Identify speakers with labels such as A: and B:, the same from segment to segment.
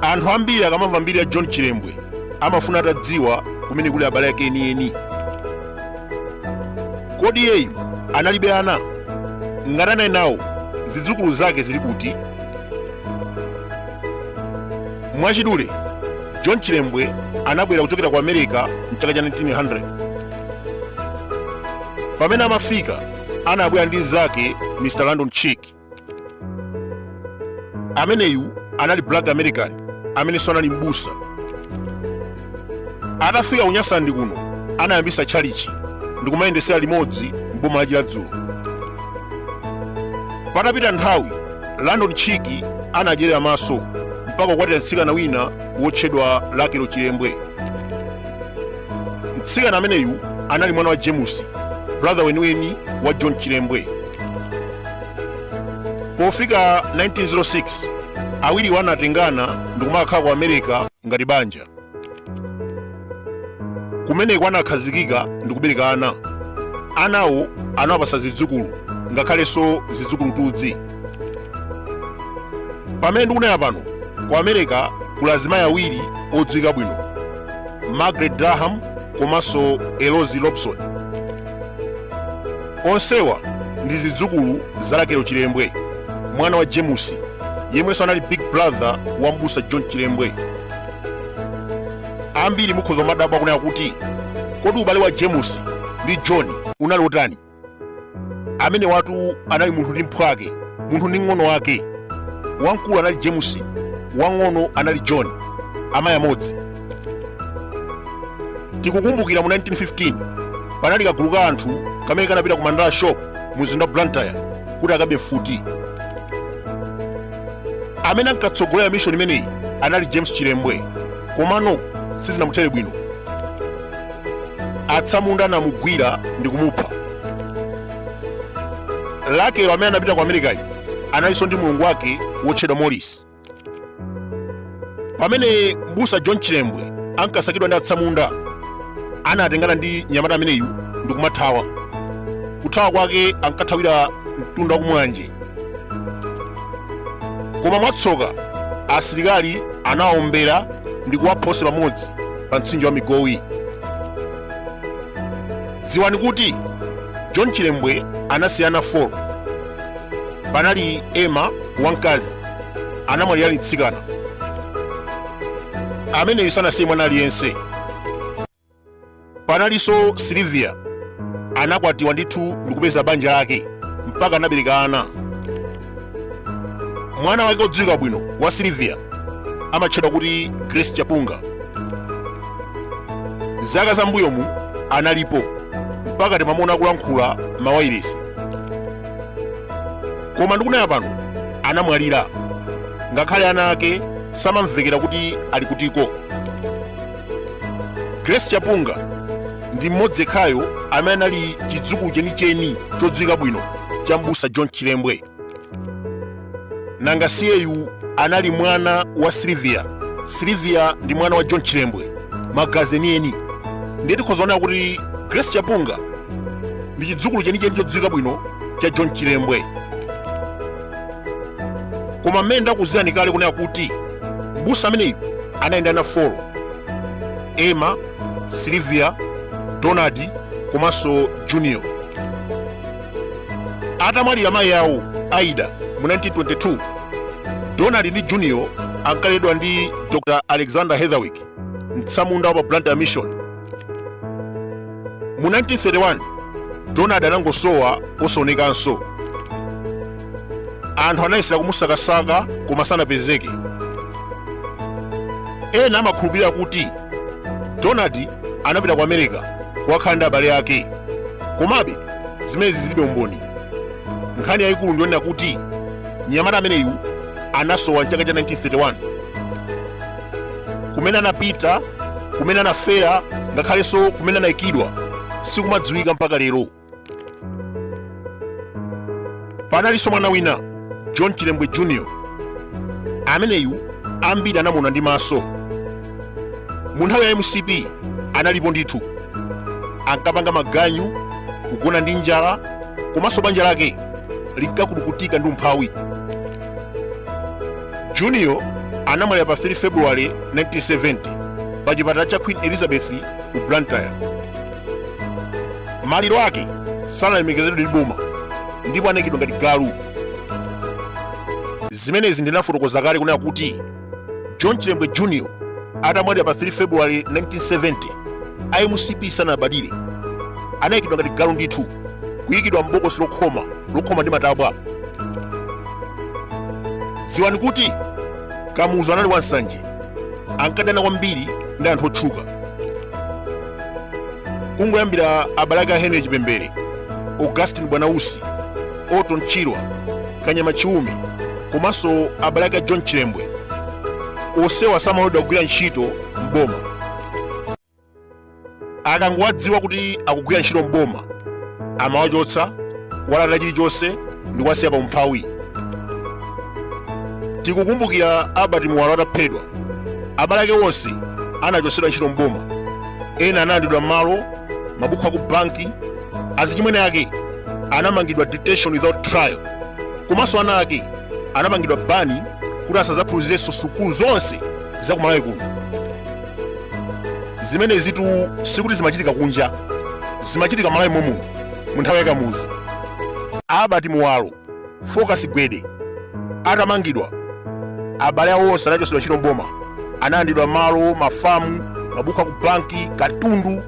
A: anthu ambiri akamamva mbiri ya john chilembwe amafuna atadziwa kumene kuli abale ake enieni kodi iyeyu analibe ana ngati anali nawo zidzukulu zake zili kuti mwachidule john chilembwe anabwera kuchokera ku america mchaka cha 1900 pamene amafika anabwera ndi mnzake mr landon cheek ameneyu anali black american amenenso anali mbusa atafika ku nyasaland kuno anayambisa tchalichi ndikumayendesera limodzi m'boma la chiradzulu patapita nthawi landon cheek anadyerera maso mpaka kukwatira mtsikana wina wotchedwa lakelo chilembwe mtsikana ameneyu anali mwana wa james brother weniweni wa john chilembwe pofika 1906 awiriwo anatengana ndikumakakhala ku america ngati banja. Kumeneko anakhazikika ndi kubereka ana. Anawo anawapasa zidzukulu ngakhalenso zidzukulutudzi. Pamene ndikunena pano, ku America kuli azimayi awiri odziwika bwino, Margaret Durham komanso Eloise Robson. onsewa ndi zidzukulu za lakelo chilembwe mwana wa james yemwenso anali big brother wa mbusa john chilembwe ambiri mukhoza kumadabwa kunena kuti kodi ubale wa james ndi john unali otani amenewatu anali munthu ndi mphwake munthu ndi mng'ono wake wamkulu anali james wang'ono anali john amayi amodzi tikukumbukira mu 1915 panali kagulu ka anthu kamene kanapita ku mandala shop mu mzinda wa blantyre kuti akabe mfuti amene ankatsogolera mishoni imeneyi anali james chilembwe komano sizinamuthere bwino atsamunda anamugwira ndi kumupha lakelo amene anapita ku amerikayo analinso ndi mlongo wake wotchedwa morris pamene mbusa john chilembwe ankasakidwa ndi atsamunda anatengana ndi mnyamata ameneyu ndikumathawa kuthawa kwake ankathawira mtunda wa ku mulanje koma mwatsoka asilikali anawaombera ndi kuwapha onse pamodzi pa mtsinje wa migowi dziwani kuti john chilembwe anasiya ana 4 panali emma wamkazi anamwalira ali mtsikana ameneyu sanasiye mwana aliyense panalinso silivia anakwatiwa ndithu ndikupeza banja lake mpaka anabereka ana mwana wake odziwika bwino wa silivia amatchedwa kuti grace chapunga zaka za mbuyomu analipo mpaka timamuona kulankhula mawailesi koma ndikunena pano anamwalira ngakhale ana ake samamvekera kuti ali kutiko grace chapunga ndi mmodzi yekhayo amene anali chidzukulu chenicheni chodziwika bwino cha mbusa john chilembwe nanga siyeyu anali mwana wa silivia silivia ndi mwana wa john chilembwe magazi enieni ndiye tikhoza kuona kuti grace chapunga ndi chidzukulu chenicheni chodziwika bwino cha john chilembwe koma mmene ndakuuzirani kale kunena kuti mbusa ameneyu anali ndi ana folo emma silivia donald komanso junior atamwalira mayi awo aida mu 1922 donald ndi junior ankaleredwa ndi dr alexander heatherwick mtsamunda wa pa blantyre mission mu 1931 donald anangosowa osaonekanso anthu anayesera kumusakasaka koma sanapezeke ena amakhulupirira kuti donald anapita ku america kukakhala ndi abale ake komabe zimenezi zilibe umboni nkhani yayikulu ndiyonena kuti mnyamata ameneyu anasowa mchaka cha 1931 kumene anapita kumene anafera ngakhalenso kumene anayikidwa sikumadziwika mpaka lero panalinso mwana wina john chilembwe jr ameneyu ambiri anamuona ndi maso mu nthawi ya mcp analipo ndithu ankapanga maganyu kugona ndi njala komanso banja lake linkakulukutika ndi umphawi junior anamwalira pa 3 february 1970 pa chipatala cha queen elizabeth ku blantyre maliro ake sanalemekezedwe ndi boma ndipo anaikidwa ngati galu zimenezi ndinafotokoza kale kunena kuti john chilembwe jr atamwalira pa 3 february 1970 a mcp sanalabadire anayikidwa ngati galu ndithu kuyikidwa m'bokosi lokhoma lokhoma ndi matabwa dziwani kuti kamuzu anali wansanje ankadana kwambiri ndi anthu otchuka kungoyambira abale ake a henry chipembere augustin bwanausi orton chirwa kanyama chiume komanso abale ake a john chilembwe onsewa samaloledwa kugwira ntchito m'boma akangowadziwa kuti akugwira ntchito m'boma amawachotsa kuwalanda chilichonse ndi kuwasiya pa umphawi tikukumbukira albert muwalo ataphedwa abale ake onse anachotsedwa ntchito m'boma ena analandidwa malo mabuku aku banki azichimwene ake anamangidwa detention without trial komanso ana ake anapangidwa bani kuti asazaphunzirenso sukulu zonse za kumalawi kuno zimenezitu sikuti zimachitika kunja zimachitika malawi momuno mu nthawi yakamuzu albert muwalo Focus Gwede atamangidwa abale awo onse anachotsedwa ntchito mboma analandidwa malo mafamu mabuku aku banki katundu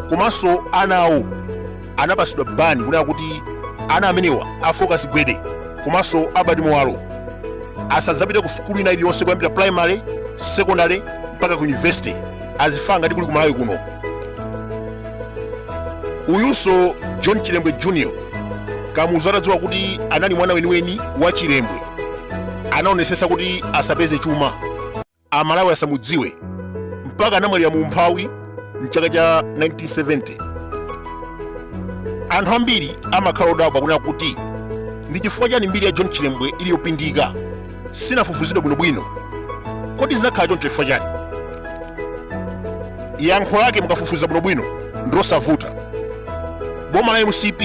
A: komanso ana awo anapasidwa bani kunena kuti ana amenewa a Focus Gwede komanso Albert Muwalo asadzapite ku sukulu ina iliyonse kuyambira primary secondary mpaka ku university azifa ngati kuli kumalawi kuno uyunso john chilembwe junior kamuzu atadziwa kuti anali mwana weniweni wa chilembwe anaonesesa kuti asapeze chuma amalawi asamudziwe mpaka anamwalira mu umphawi mchaka cha 1970 anthu ambiri amakhala odabwa kunena kuti ndi chifukwa chani mbiri ya john chilembwe ili yopindika sinafufuzidwe bwinobwino kodi zinakhala choncho chifukwa chani yankho lake mukafufuza bwinobwino ndilosavuta boma la mcp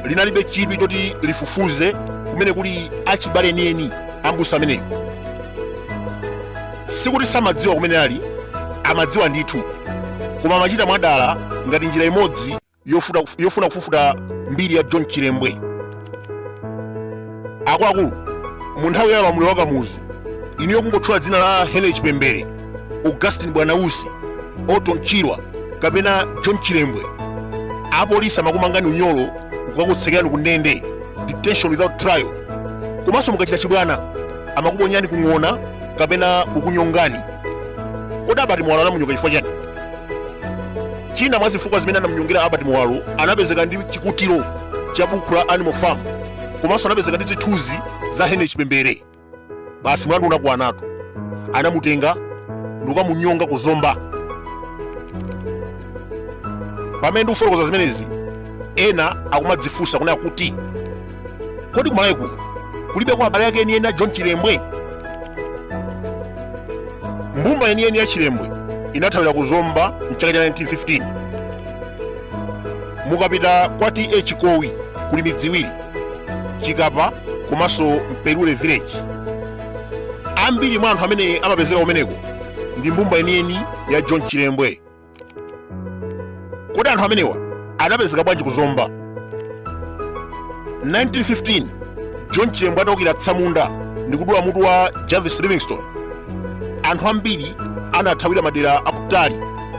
A: linalibe chidwi choti lifufuze kumene kuli achibale enieni ambusa ameneyu sikuti samadziwa kumene ali amadziwa ndithu koma amachita mwadala ngati njira imodzi yofuna kufufuta mbiri ya john chilembwe akuluakulu mu nthawi ya ulamuliro wa kamuzu inuyo kungotchula dzina la henry chipembere augustine bwanausi orton chirwa kapena john chilembwe apolisi amakumangani unyolo kukakutsekerani ku ndende detention without trial komanso mukachita chibwana amakuponyani kung'ona kapena kukunyongani kodi albert muwalo anamunyonga chifukwa chani china mwa zifukwa zimene anamnyongera albert muwalo anapezeka ndi chikutiro cha buku la animal farm komanso anapezeka ndi zithunzi za henry chipembere basi mlandu unakwanatu anamutenga ndikukamunyonga ku zomba pamene ndikufotokoza zimenezi ena akumadzifunsa kunena kuti kodi kumalawi kuno kulibe kwa abale ake enieni a john chilembwe mbumba yeniyeni ya chilembwe inathawira ku zomba mchaka cha 1915 mukapita kwa ta chikowi kuli midzi iwiri chikapa komanso mperule village ambiri mwa anthu amene amapezeka kumeneko ndi mbumba yeniyeni ya john chilembwe kodi anthu amenewa anapezeka bwanji ku zomba 1915 john chilembwe ataukira atsamunda ndi kudula mutu wa jarvis livingstone anthu ambiri anathawira madera akutali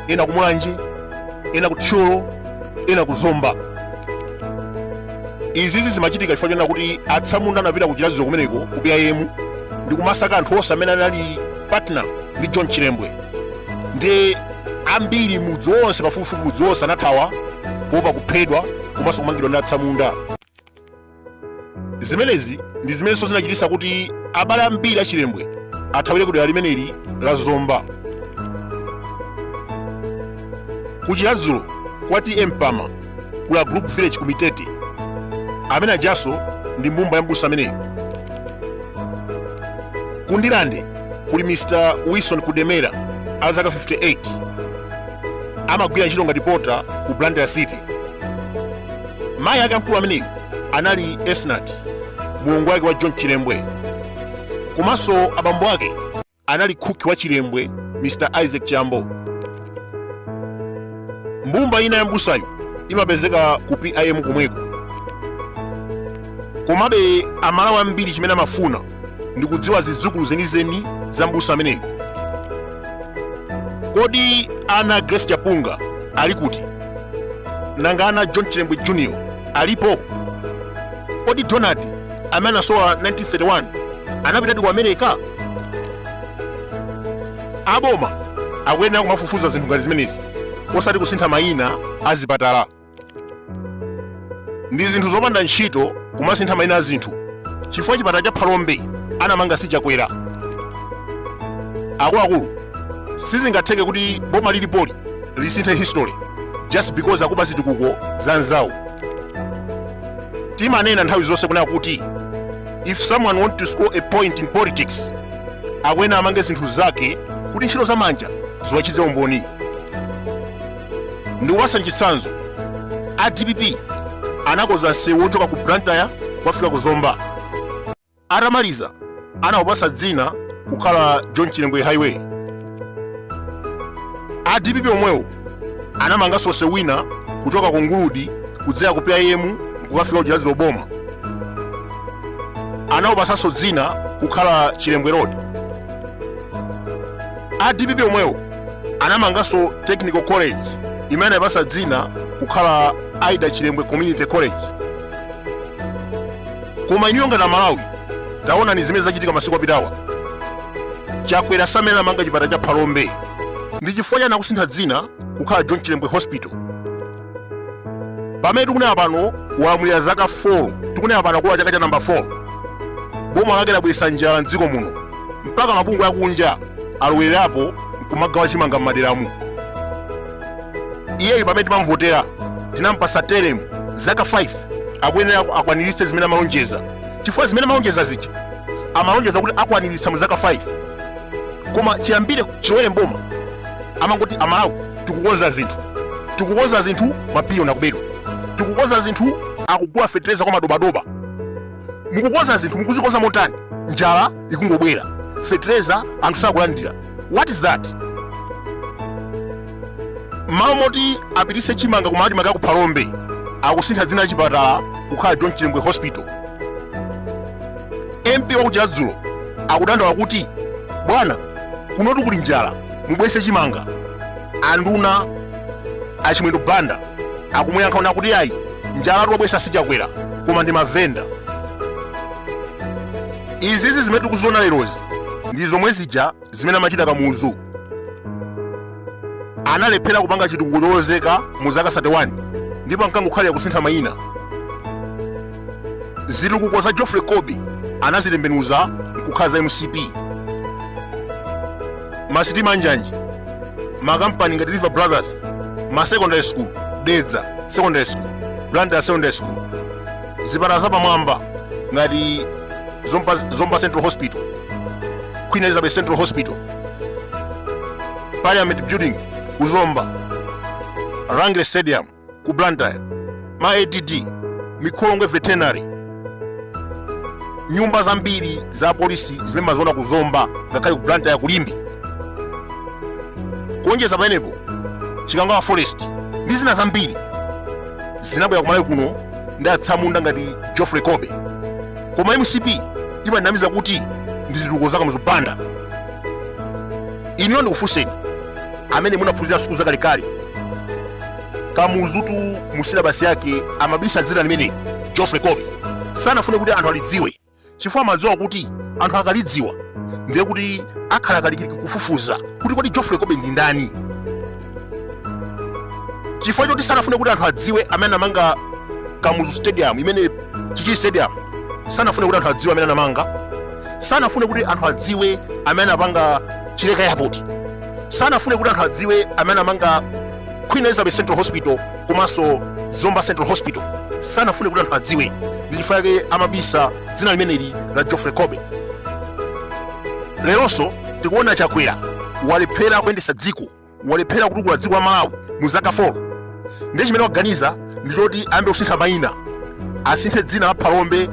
A: ena ku mulanje ena ku thyolo ena ku zomba izizi zimachitika chifukwa chonena kuti atsamunda anapita ku chiradzulu kumeneko ku pim ndi kumasaka anthu onse amene anali partner ndi john chilembwe ndi ambiri mudzi wonse pafupifupi mudzi wonse anathawa kuopa kuphedwa komanso kumangidwa ndi atsamunda zimenezi ndi zimenenso zinachititsa kuti abale ambiri a chilembwe athawire kudera limeneli la zomba kuchiradzulu kwa ta mpama kuli a group village kumitete amene ajanso ndi mbumba ya mbusa ameneyo ku ndirande kuli mr wilson kudemera a zaka 58 amagwira ntchito ngati pota ku blantyre city mayi ake amkulu ameneyo anali esnat mlongo wake wa john chilembwe komanso abambo ake anali cook wa chilembwe mr isaac chambo mbumba ina ya mbusayo imapezeka ku pim kumweko komabe amalawi ambiri chimene amafuna ndi kudziwa zidzukulu zenizeni za mbusa ameneyo kodi ana grace chapunga ali kuti nanga ana john chilembwe junior alipo kodi donald amene anasowa 1931 anapitadi ku america aboma akuyenera kumafufuza zinthu ngati zimenezi osati kusintha mayina a zipatala ndi zinthu zopanda ntchito kumasintha mayina a zinthu chifukwa chipatala cha phalombe anamanga si chakwera akuluakulu sizingatheke kuti boma lilipoli lisinthe history just because akuba zitukuko za nzawo timanena nthawi zonse kunena kuti if someone want to score a point in politics akuyena amange zinthu zake kuti ntchito za manja ziwachitire umboni ndikupatsa chitsanzo a dpp anakoza msewu wochoka ku blantyre kukafika ku zomba Atamaliza, anawupasa dzina kukhala John Chilembwe Highway. A DPP omwewo anamanganso nsewu wina kuchoka ku Nguludi kudzera ku PIM kukafika ku Chiradzulu boma. Anawupasanso dzina kukhala Chilembwe Road. A DPP omwewo anamanganso Technical College imene anayipasa dzina kukhala Aida Chilembwe Community College. Koma inuyo ngati Amalawi, taonani zimene zachitika masiku apitawa. Chakwera samene anamanga chipatala cha Phalombe ndi chifukwa chani akusintha dzina kukhala John Chilembwe Hospital. Pamene tikunena pano walamulira zaka 4, tikunena pano akulowa chaka cha namba 4. Boma lake labweretsa njala m'dziko muno mpaka mabungwe akunja alowererapo nkumagawa chimanga m'maderamu. iyeyo pamene timamvotera tinampasa teremu zaka 5 akuyenera akwaniritse zimene amalonjeza chifukwa zimene amalonjeza zija amalonjeza kuti akwaniritsa mu zaka 5 koma chiyambire chilowere mboma amangoti amalawi tikukonza zinthu tikukonza zinthu mabiliyoni akubedwa tikukonza zinthu akugula fetereza kwa madobadoba mukukonza zinthu mukuzikonza motani njala ikungobwera fetereza anthu sakulandira what is that mmalo moti apitise chimanga kuma admarc aku phalombe akusintha dzina la chipatala kukhala john chilembwe hospital mp waku chiradzulu akudandaula kuti bwana kunotu kuli njala mubwese chimanga anduna achimwendo banda akumuyankha ona kuti ayi njala wabwesa si chakwera koma ndi mavenda izizi zimene tikuziona lerozi ndi zomwe zija zimene amachita kamuzu analephera kupanga chitukuko cholozeka mu zaka 31 ndipo ankangokhalira kusintha mayina zitukuko za geoffrey colby anazitembenuza nkukhala za mcp masitima anjanji makampani ngati lever brothers ma secondary school dedza secondary school blantyre secondary school zipatala zapamwamba ngati zomba central hospital queen elizabeth central hospital parliament building kuzomba rangeley stadium ku blantyre ma add mikolongwe veterinary nyumba zambiri za polisi zimene mumaziona ku zomba ngakhale ku blantyre ku limbe kuonjeza pamenepo chikangawa forest ndi zina zambiri zinabwera kumalawi kuno ndi atsamunda ngati geoffrey colby koma mcp imatinamiza kuti ndi zitukuko za kamuzu banda ineyo ndikufunseni amene munaphunzira sukulu zakalekale kamuzutu mu silabasi yake amabisa dzina limeneli geoffrey kobe sanafune kuti anthu alidziwe chifukwa amadziwa kuti anthu akalidziwa ndiye kuti akhala akulikiliki kufufuza kuti kodi geoffrey kobe ndi ndani chifukwa choti sanafune kuti anthu adziwe amene anamanga kamuzu stadium imene chichiri stadium sanafune kuti anthu adziwe amene anamanga sanafune kuti anthu adziwe amene anapanga chileka airport sanafune kuti anthu adziwe amene anapanga queen elizabeth central hospital komanso zomba central hospital sanafune kuti anthu adziwe ndi chifukwa chake amabisa dzina limeneli la geoffrey kobe leronso tikuona chakwera walephera kuyendetsa dziko walephera kutukula dziko la malawi mu zaka 4 ndiye chimene waganiza ndi choti ayambe kusintha mayina asinthe dzina la phalombe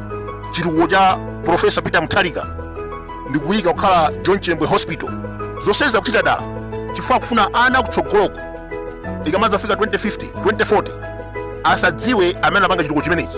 A: chitukuko cha profesa peter mutharika ndi kuyika kukhala john chilembwe hospital zonsezi akuchita dala chifukwa akufuna ana akutsogoloku ikamadzafika 2050 2040 asadziwe amene anapanga chitukuko chimenechi